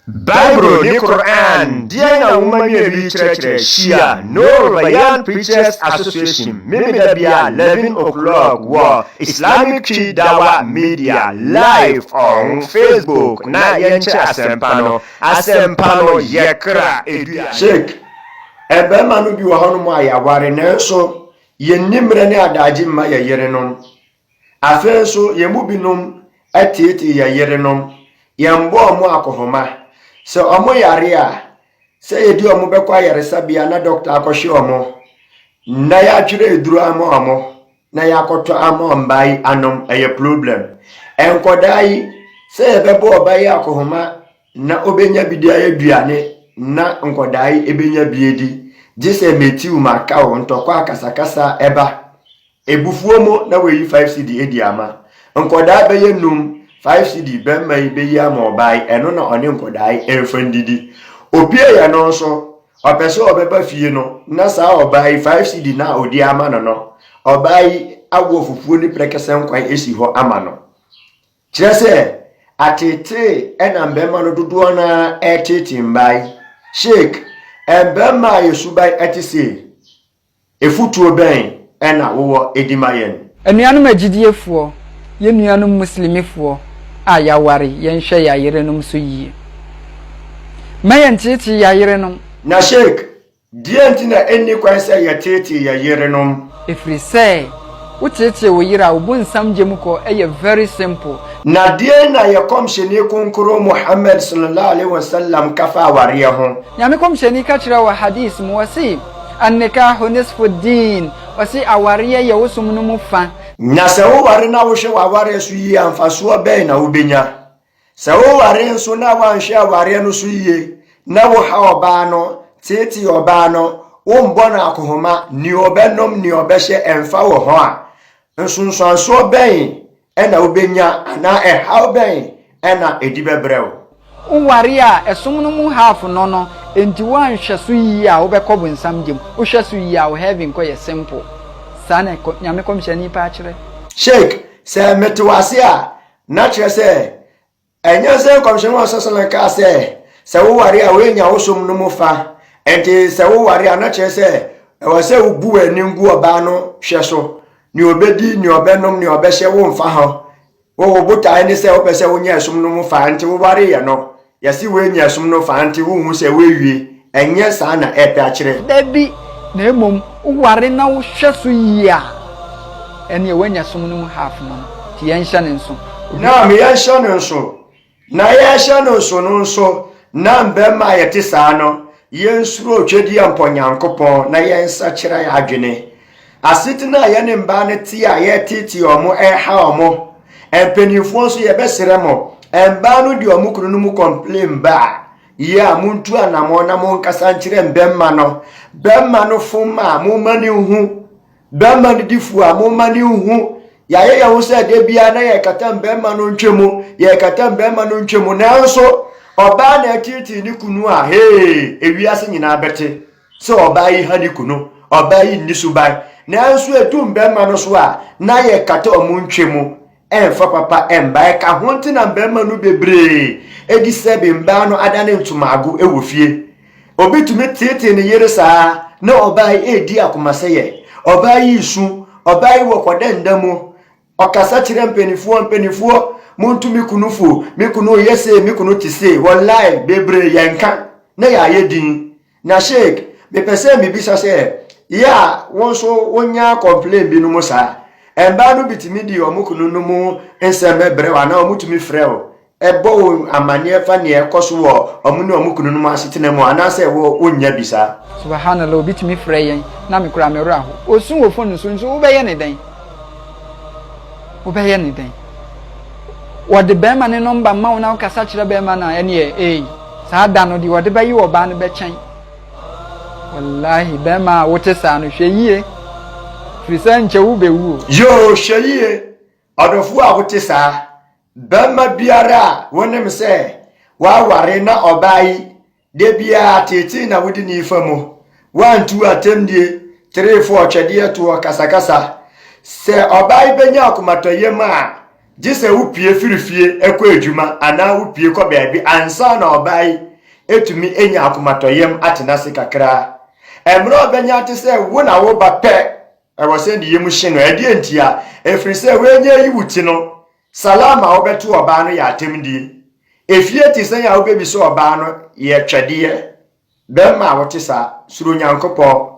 Bible ne Qur'aan, deɛn na wo ma nua bi kyerɛkyerɛ Shia, Noor Bayan Preachers Association, Memeda bia 11 o'clock wɔ Islamic Twi Dawah Media live on Facebook na yɛnkyɛ asɛmpa no, asɛmpa no yɛ kra dua. Sheik, mmarima no bi wɔ hɔnom a yɛaware nanso yɛnni mmerɛ ne adaagye mma yɛn yerenom. Afei nso, yɛn mu binom atiatia yɛn yerenom, yɛmmɔ wɔn akɔhoma. Sɛ wɔyare a, sɛ yɛde wɔn bɛkɔ ayaresabea na dɔkta akɔhwɛ wɔn, na yɛatwerɛ aduro ama wɔn, na yɛakɔtɔ ama wɔn mmaa yi anom, ɛyɛ problem. Nkwadaa yi, sɛ yɛbɛbɔ ɔba yi akɔhoma Nna obenya bi de ayɛ eduane na nkɔdaa yi ebenya bi edi, gye sɛ metsiw m'akaw, ntɔkwa akasakasa ba ebufuo mu na woeyi five cedi edi ama. Nkɔdaa bɛyɛ num, five cedi bɛmma yi beyi ama ɔbaa yi, ɛno na ɔne nkɔdaa yi mfa ndidi. Opue yɛ no nso, ɔpɛ sɛ ɔbɛba fie no na saa ɔbaa yi five cedi no a odi ama no no, ɔbaa yi awofokuo no prɛkɛsɛn kwan si hɔ ama no. Kyerɛ sɛ, ateetee na mmarima no dodoɔ no ara reteetee mmaa yi. Sheikh, mmarima a yɛn suban te sei, afutuo bɛn na wowɔ de ma yɛn? Anuanom agyidiefoɔ, yɛn nuanom Muslimifoɔ a yɛaware, yɛnhwɛ yɛn ayerenom so yie. Mma yɛnteetee yɛn ayerenom. Na Sheikh, Deɛn nti na ɛnni kwan sɛ yɛteetee yɛn yerenom? Ɛfiri sɛ, woteetee wo yere a, wo bonsam gya mu kɔ, ɛyɛ very simple. Na deɛn na yɛ Kɔmhyɛni Kronkron Muhammad Sallallahu Alaihi Wasallam ka fa awareɛ ho? Nyame Kɔmhyɛni ka kyerɛɛ wɔ Hadith mu, ɔse, An-nikaahu nisfu ddeen, ɔse, awareɛ yɛ wo som no mu fa. Na sɛ woware na wohwɛ w'awareɛ so yie a, mfasoɔ bɛn na wobɛnya? Sɛ woware nso na woanhwɛ awareɛ no so yie na woha ɔbaa no, teetee ɔbaa no, wombɔ no akohoma, nea ɔbɛnom, nea ɔbɛhyɛ ɛmfa wɔ ho a, nsunsuansoɔ bɛn na wobɛnya anaa ɛhaw bɛn na ɛdi bɛbrɛ wo? Woware a, ɛsom no mu half no no, enti woanhwɛ so yie a wobɛkɔ bonsam gya mu. Wohwɛ so yie a wo heaven kɔ yɛ simple. Saa na Nyame kɔmhyɛni paa kyerɛ. Sheikh, sɛ mete wo ase a, Na kyerɛ sɛ, ɛnyɛ sɛ nkɔmhyɛni wa sasana kaa sɛ, sɛ woware a woanya wo som no mu fa. Ɛnti sɛ woware a, na kyerɛ sɛ, ɛwɔ sɛ wobu w'ani ngu ɔbaa no hwɛ so. Nea ɔbɛdi, nea ɔbɛnom, nea ɔbɛhyɛ, womfa ho. Wo, wo botae ne sɛ wopɛ sɛ wonya ɛsom no mu fa, ɛnti wowareeɛ no. Yɛse woanya ɛsom no faa nti wonhu sɛ woawie? Ɛnyɛ saa na ɛrepɛ akyerɛ. Dabi, na mmom woware na wohwɛ so yie a, ɛneɛ woanya som no mu half no no. Nti yɛnhyɛ no nso. Obi. Naam, yɛnhyɛ no nso. Na yɛrehyɛ no nso no nso, na mmarima a yɛte saa no, yɛnsuro otwedeɛ mpɔ Nyankopɔn na yɛnsakyera yɛn adwene Asetena a yɛne mmaa no te a yɛreteetee wɔn, ɛreha wɔn. Mpanimfoɔ nso yɛbɛsrɛ mo, mmaa no de wɔn kunu no mu complain ba a, yie a montu anammɔn na monkasa nkyerɛ mmarima no. Barima no fom a, momma no nhu. Barima no di fo a, momma no nhu. Yɛayɛ yɛn ho sɛ da biara na yɛrekata mmarima no ntwa mu, yɛrekata mmarima no ntwa mu, nanso ɔbaa na ɛteetee ne kunu a, hee, ewiase nyinaa bɛte. sɛ ɔbaa yi ha ne kunu, ɔbaa yi nni so ban. Nanso edu mmarima no so a, na yɛkata wɔn ntwe mu ɛmfa papa mma. Ɛka ho nti na mmarima no bebree edi sɛ bi mbaa no adane ntomago wɔ fie. Obi tumi teetee ne yere saa na ɔbaa yi redi akomasɛyɛ, ɔbaa yi resu, ɔbaa yi wɔ kɔdɛnda mu, Ɔkasa kyerɛ mpaninfoɔ mpaninfoɔ monto me kunu fo me kunu reyɛ sei me kunu te sei wallai bebree yɛnka na yɛayɛ din na sheik mepɛ sɛ mebisa sɛ yɛ a wo nso wonya complain bi no mo saa mbaa no bitumi di ɔmo kunu no mo nsɛm brɛ wo anaa ɔmo tumi frɛ wo bɔ wɔn amanneɛ fa nea ɛkɔ so wɔ wɔn ne wɔn kununom asetena mu anaasɛ wɔ wonnya bi saa. Subahanallah obi tumi frɛ yɛn na me koraa me werɛ ahow. Osu wɔ phone so nso wobɛyɛ ne dɛn? Wobɛyɛ ne dɛn? Wɔde bɛrima ne nɔmba ma wo na wokasa kyerɛ bɛrima no a ɛneɛ ei saa da no deɛ wɔde bɛye ɔbaa no bɛkyɛn. Wallahi bɛrima a wote saa no hwɛ yie firi sɛ nkyɛ wobɛwu o. Yoo hwɛ yie Ɔdɔfoɔ a wote saa, barima biara a wonim sɛ waware na ɔbaa yi, da biara teetee na wode ne fa mu, woantu atɛmdie, terefoɔ, ɔtwɛdeɛ toɔ, kasakasa. Sɛ ɔbaa yi bɛnya akomatɔyam a, gye sɛ wopue firi fie kɔ adwuma anaa wopue kɔ baabi ansa na ɔbaa yi ɛtumi anya akomatɔyam atena ase kakra. Mmerɛ ɔbɛnya te sɛ wo na woba pɛ Ɛwɔ sɛ ne yam hye no. Ɛdeɛn ntia? Ɛfiri sɛ w'anya ayi wo ti no. Salaam a wobɛto ɔbaa no yɛ atɛmdie. Efie te sɛn a wobɛbisa ɔbaa no yɛ twɛdeɛ. Bɛrima a wote saa, suro Nyankopɔn.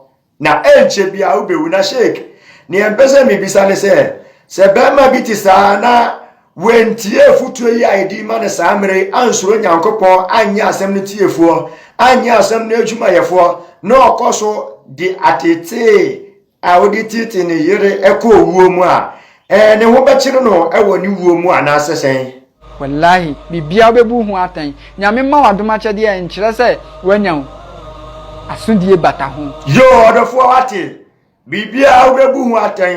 Na ɛnkyɛ biara wobɛwu. Na Sheikh, deɛ mpɛ sɛ mebisa ne sɛ, sɛ bɛrima bi te saa na. Wantie afotuo yi a yɛde rema no saa mmerɛ yi, ansuro Nyankopɔn, anyɛ asɛm no tiefoɔ, anyɛ asɛm no adwumayɛfoɔ, na ɔkɔ so de atetee a ɔde teetee ne yere kɔ owuo mu a, ɛɛ ne ho bɛkyere no wɔ ne wuo mu anaasɛ sɛn? Wallahi, biribiara wobɛbu ho atɛn. Nyame mma wo adom akyɛdeɛ a ɛnkyerɛ sɛ woanya wo asodie bata ho. Yoo ɔdɔfoɔ wate. Biribiara a wobɛbu ho atɛn.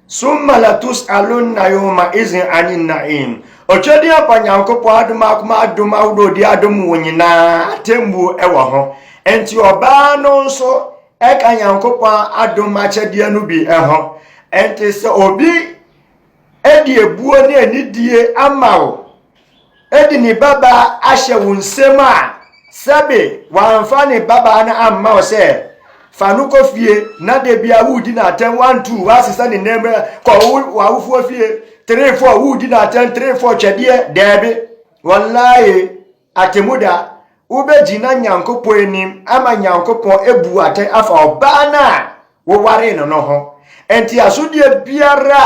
Summa latus'alunna yawma izin ani na'im. Ɔtwadi aba Nyankopɔn adom akoma adom ahodoɔ ɔde adom wo nyinaa atemmuo ɛwɔ ho. Enti ɔbaa no nso ɛka Nyankopɔn adom akyɛdeɛ no bi ɛho. Enti sɛ obi de abuo ne anidie ama wo, de ne babaa ahyɛ wo nsam a, sɛbe wamfa ne babaa no amma wo sɛ, fa no kɔ fie na da bia woredi no atɛm one two woasesa ne nan mu kɔ w'awofoɔ fie three four woredi no atɛm three four twɛdeɛ daabi wallahi Atemmuda, Wobɛgyina Nyankopɔn anim ama Nyankopɔn abu wo atɛn afa ɔbaa no a wowaree no no ho. Nteasodeɛ biara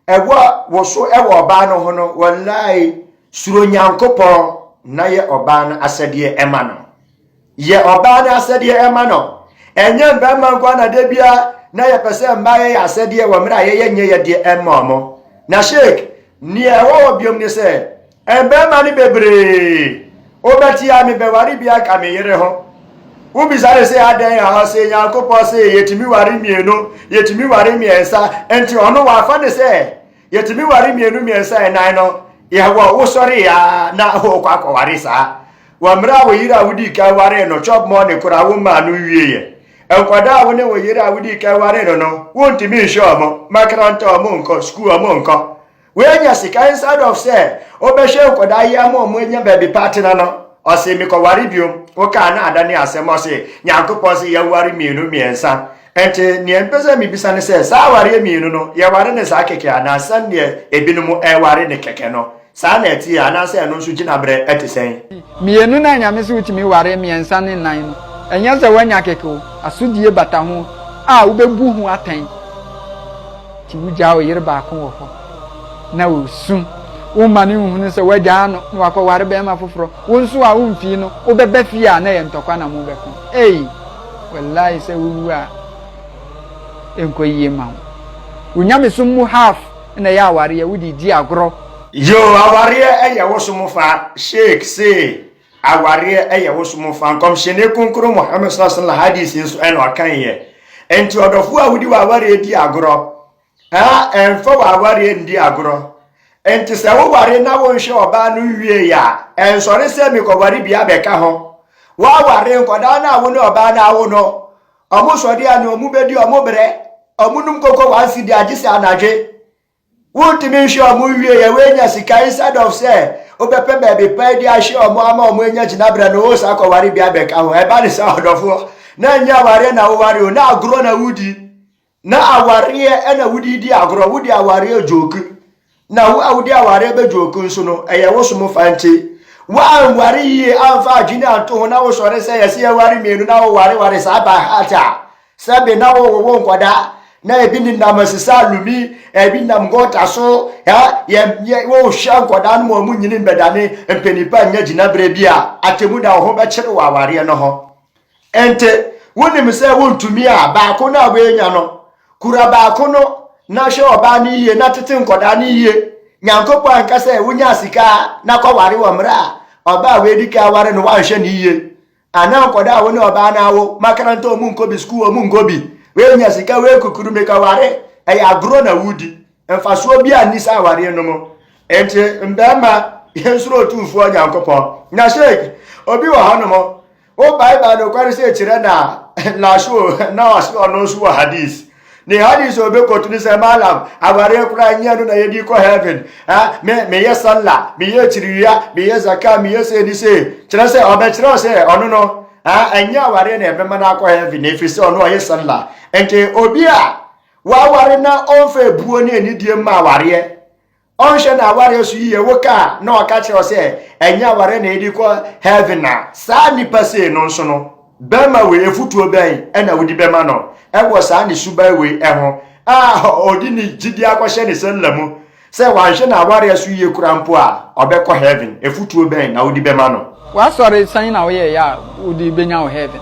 a ɛwɔ wo so wɔ ɔbaa no ho no, wallahi, suro Nyankopɔn na yɛ ɔbaa no asɛdeɛ ma no. Yɛ ɔbaa no asɛdeɛ ɛma no. Ɛnyɛ mmarima nko na da bia na yɛpɛ sɛ mmaa yɛyɛ asɛdeɛ wɔ mmerɛ a yɛyɛ nyɛ yɛdeɛ ɛmma ɔmo. Na Sheikh, neɛ ɛwɔ hɔ biom ne sɛ, mmarima no bebree, wobɛte a mebɛware biaa ka me yere ho. Wobisa no sɛ adɛn a, ɔse Nyankopɔn se yɛtumi ware mmienu, yɛtumi ware mmiɛnsa, nti ɔno wafa no sɛ, Yɛtumi ware mmienu mmiɛnsa ɛnan no yɛwɔ wosɔree a na wokɔ akɔware saa wɔ mmerɛ a wo yere a wodii kan waree no chop money koraa wo mmaa no nwieɛ nkwadaa a wo ne wo yere a wodii kan waree no no wontumi nhwɛ ɔmo makaranta ɔmo nkɔ sukuu ɔmo nkɔ woanya sika inside of sɛ wobɛhwɛ nkwadaa yi ama ɔmo anya baabi pa atena no ɔse mekɔware biom wokaa no ada ne asɛm ɔse nyankopɔn se yɛware mmienu mmiɛnsa Enti, nea mepɛ sɛ mibisa ne sɛ, saa awareɛ mmienu no, yɛware no saa kɛkɛ anaa sɛdeɛ ebinom reware no kɛkɛ no, saa na ɛteɛ anaasɛ ɛno nso gyinaberɛ te sɛn? Mmienu no a Nyame se wotumi ware mmiɛnsa ne nnan no, ɛnyɛ sɛ woanya kɛkɛ o, asodie bata ho a wobɛbu ho atɛn. Nti wogyaa wo yere baako wɔ hɔ na ɔresu, womma no nhunu sɛ woagyaa no na wakɔware barima foforɔ, wo nso a womfii no, wobɛba fie a na ɛyɛ ntɔkwa na mobɛko. Ei! Walayi sɛ wo wu a ɛnkɔ yie ma wo. Wo nyamesom mu half na ɛyɛ awareɛ wo de redi agorɔ. Yoo awareɛ ɛyɛ wo som fa sheik see awareɛ ɛyɛ wo som fa nkɔmhyɛni kronkron Muhammad saw salah hadith nso ɛna ɔkaeɛ nti ɔdɔfoɔ a wode w'awareɛ di agorɔ Aa ɛmfa w'awareɛ ndi agorɔ. Nti sɛ wo ware na wo nhwɛ ɔbaa no nwiee a, ɛnsɔre sɛ me kɔware bi abɛka ho. Wo aware nkɔdaa no a wo ne ɔbaa no awo no, ɔmo sɔre a nea ɔmo bɛdi ɔmo brɛ, ɔmo nom koko one cedi agye sɛ anadwe. Wo ntumi nhwɛ ɔmo nwiee a w'anya sika instead of sɛ wo bɛpɛ baabi pa adi ahwɛ ɔmo ama ɔmo anya gyinabrɛ no wo sa kɔware bi abɛka ho. Ɛba ne saa ɔdɔfoɔ, na nyɛ awareɛ na wo ware o, na agorɔ na wo di. Na awareɛ ɛna wode redi agorɔ, wode awareɛ joke. Na wo a wode awareɛ bɛ joke nso no, ɛyɛ wo som fa nti. Woanware yie amfa adwene anto ho na wosɔre sɛ yɛse yɛware mmienu na wowareware saa by heart a, sɛbe na wowowo nkwadaa na ebi nenam asisa alumi, ebi nenam gɔta so, ha, yɛ, yɛ, wohwɛ nkwadaa no ma wɔn nyini mbɛdane mpanipa nya gyinaberɛ bi a, atemmuda wo ho bɛkyere wɔ awareɛ no ho. Ente wonim sɛ wontumi a baako no a woanya no, kura baako no na hwɛ ɔbaa no yie na tete nkɔdaa no yie. Nyankopɔn anka sɛ wonya sika na kɔware wɔ mmerɛ a ɔbaa a woadi ka aware no woanhwɛ no yie. Anaa nkɔdaa a wo ne ɔbaa no awo, makaranta ɔmu nkɔ bi, sukuu ɔmu nkɔ bi. Woanya sika wei kukuru meka ware, ɛyɛ agorɔ na wodi. Mfasoɔ bi a nni saa awareɛ no mu. Ente mmarima yɛnsuro otumfoɔ Nyankopɔn. Na sheik, obi wɔ hɔ nom, O bye bye no kwari se kyerɛ na laso na ɔse ɔno nso wɔ hadis ne hadis ɔbɛkɔto no sɛ malam awareɛ koraa nyɛ no na yɛdi kɔ heaven ha me meyɛ salla meyɛ akyiriwia meyɛ zaka meyɛ sɛ ni sɛ kyerɛ sɛ ɔbɛkyerɛ sɛ ɔno no ha ɛnyɛ awareɛ na ɛbɛma no akɔ heaven na ɛfiri sɛ ɔno ɔyɛ salla nti obi a waware na ɔmfa ebuo ne anidie mma awareɛ Ɔnhwɛ n'awareɛ so yie, wo ka a na ɔka kyerɛ wo sɛ ɛnyɛ awareɛ na ɛdi kɔ heaven a, saa nipa sei no nso no, bɛrima wei afutuo bɛn na wodi bɛma no wɔ saa ne suban wei ho a ɔdi ne gyidie akɔhyɛ ne sɛlla mu sɛ wanhwɛ n'awareɛ so yie koraa mpo a ɔbɛkɔ heaven, afutuo bɛn na wodi bɛma no? W'asɔre sɛn na woyɛeɛ a wode bɛnya wo heaven?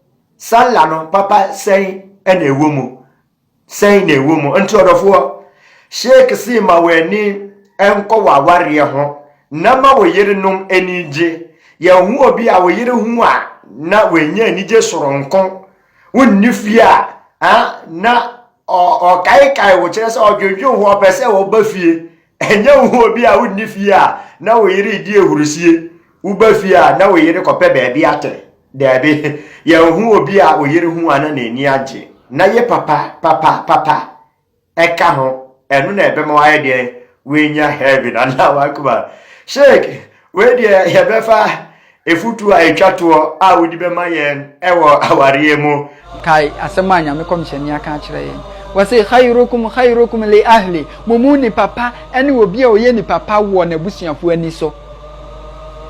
Sallah no papa sɛn na ɛwɔ mu? Sɛn na ɛwɔ mu? Nti ɔdɔfoɔ, Sheikh se ma w'ani nkɔ w'awareɛ ho na ma wo yerenom ani gye. Yɛhu obi a wo yere hu a na wanya anigye soronko. Wonni fie a, ah, na ɔkaekae wo, kyerɛ sɛ ɔdwendwen ho, ɔpɛ sɛ ɔba fie. Ɛnyɛ wo ho obi a wonni fie a na wo yere redi ahurusie, woba fie a na wo yere kɔpɛ baabi atɛ. Daabi, yɛnhu obi a wo yere hu a na n'ani agye. Na ye papa, papa, papa ka ho, ɛno na ɛbɛma wayɛ deɛn? Wanya heaven anaa wakoma. Sheikh, wei deɛ yɛbɛfa Afotu a ɛtwa toɔ a wode bɛma yɛn wɔ awareɛ mu. Kae asɛm a Nyame kɔmhyɛni aka akyerɛ yɛn. Wɔse, Khairukum khairukum li ahli, mo mu nipa pa ne obi a ɔyɛ nipa pa wɔ n'abusuafoɔ ani so.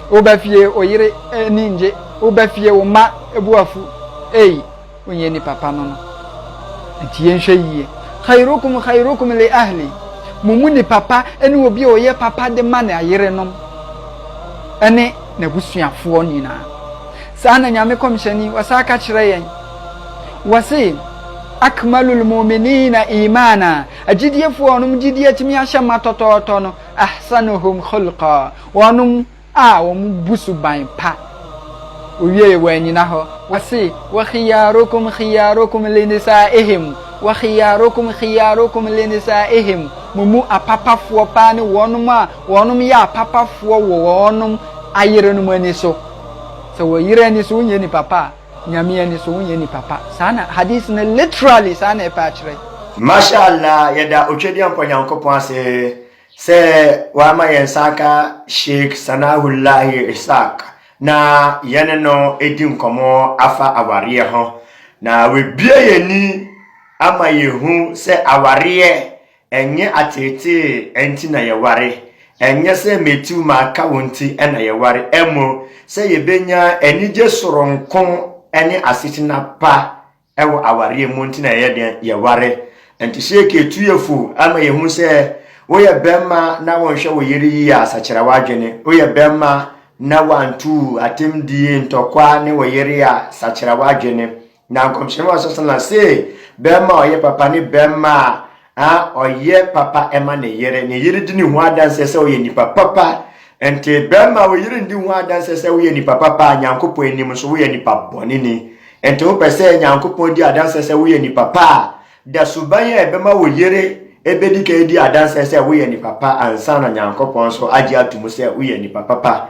Woba fie, wo yere ani nnye, woba fie, wo mma bu wo afu. Ei! Wonyɛ nnipa pa no no. Enti yɛnhwɛ yie. Khairukum khairukum li ahli. Mo mu nipa pa ne obi a ɔyɛ papa de ma n'ayerenom ne n'abusuafoɔ nyinaa. Saa na Nyame kɔmhyɛni, wɔsaa ka kyerɛ yɛn. Wɔse, Akmalul mu'minina imaana, agyidiefoɔ a wɔnom gyidie atumi ahyɛ ma tɔtɔɔtɔ no, ahsanuhum khulqa, wɔnom a wɔbu suban pa, wowiei wɔannyina hɔ, wɔse, Wa khiyarukum khiyarukum li nisaa'ihim, Wa khiyarukum khiyarukum li nisaa'ihim, mo mu apapafoɔ paa ne wɔnom a wɔnom yɛ apapafoɔ wɔ wɔnom ayerenom ani so. Sɛ wɔ yere ani so wonyɛ nipa pa a, Nyame ani so wonyɛ nipa pa. Saa na hadith no literally saa na ɛpɛ akyerɛ. Masha Allah yɛda Otwadeɛ Mpa Nyankopɔn ase. Sɛ wama yɛn nsa aka Sheikh Sanahullahi Ishaq na yɛne no edi nkɔmmɔ afa awareɛ ho, na wabue yɛn ani ama yɛhu sɛ awareɛ ɛnyɛ ateetee nti na yɛware, ɛnyɛ sɛ metu maka wo nti na yɛware, mmom sɛ yɛbɛnya anigye soronko ne asetena pa Wɔ awareɛ mu nti na yɛyɛ deɛn? Yɛware. Nti sɛ yɛka ɛtuiɛ fo ama yɛhu sɛ woyɛ bɛmma na wonhwɛ wo yere yie a, sakyera w'adwene. Woyɛ bɛmma na wantu atɛmdie, ntɔkwa ne wo yere a, sakyera w'adwene. Na Nkɔmhyɛni Muhammad sallallahu alaihi wasallam see, bɛmma a ɔyɛ papa ne bɛmma a a ɔyɛ papa ma ne yere, ne yere di ne ho adanseɛ sɛ ɔyɛ nipa papa. Nti bɛrima wo yere ndi ho adanseɛ sɛ woyɛ nipa papa a Nyankopɔn anim nso woyɛ nipa bɔneni. Nti wopɛ sɛ Nyankopɔn di adanseɛ sɛ woyɛ nipa pa a, da suban a ɛbɛma wo yere ɛbɛdi ka adi adanseɛ sɛ woyɛ nipa pa ansa na Nyankopɔn nso agye ato mu sɛ woyɛ nipa papa.